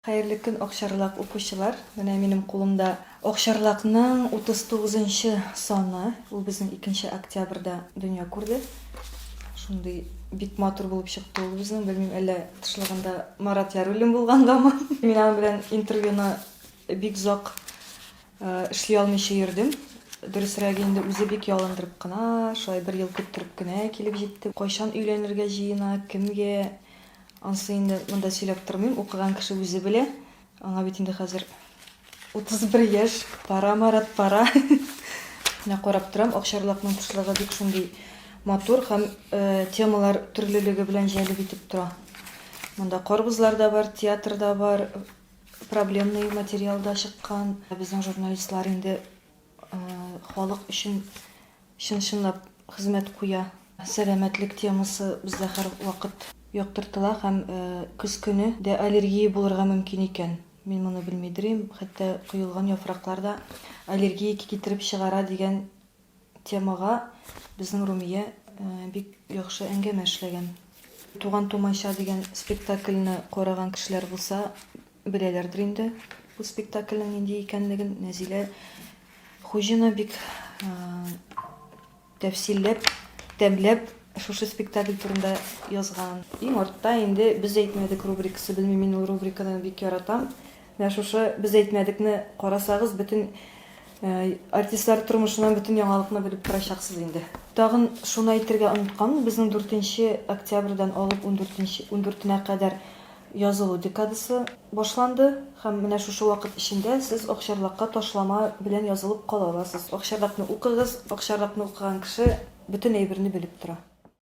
Хәерле көн Акчарлак укучылар! Менә минем кулымда Акчарлакның 39 нчы саны. Ул безнең икенче октябрьдә дөнья күрде. Шундый бик матур булып чыкты ул безнең. Белмим, әллә тышлыгында Марат Яруллин булгангамы. Мин аның белән интервьюны бик озак эшли алмыйча йөрдем. Дөресрәге инде, үзе бик ялындырып кына, шулай бер ел көттереп кенә килеп җитте. Кайчан өйләнергә җыена, кемгә? Ансы инде монда сөйләп тормыйм, укыган кеше үзе белә. Аңа бит инде хәзер 31 яшь, пара марат пара. Менә карап торам, Акчарлакның тышлыгы бик шундый матур һәм э, темалар төрлелеге белән җәлеп итеп тора. Монда карбызлар да бар, театр да бар, проблемный материалда чыккан. Безнең журналистлар инде Халык өчен чын-чынлап хезмәт куя. Сәламәтлек темасы бездә һәрвакыт яктыртыла һәм көз көне дә аллергия булырга мөмкин икән. Мин моны белмидерим, хәтта коелган яфраклар да аллергия китереп чыгара дигән темага безнең Румия бик яхшы әңгәмә эшләгән. Туган-тумача дигән спектакльне караган кешеләр булса, Беләләрдер инде бу спектакльнең нинди икәнлеген. Нәзилә Хуҗина бик тәфсилләп, тәмләп шушы спектакль турында язган. Иң артта инде без әйтмәдек рубрикасы. Белмим, мин ул рубриканы бик яратам. Менә шушы без әйтмәдекне карасагыз, бөтен э, артистлар тормышыннан бөтен яңалыкны белеп торачаксыз инде. Тагын шуны әйтергә оныткан, безнең 4 октябрьдән алып 14 14-нә кадәр Язылу декадасы башланды һәм менә шушы вакыт эчендә сез Акчарлакка ташлама белән язылып кала аласыз. Акчарлакны укыгыз, Акчарлакны укыган кеше бөтен әйберне белеп тора.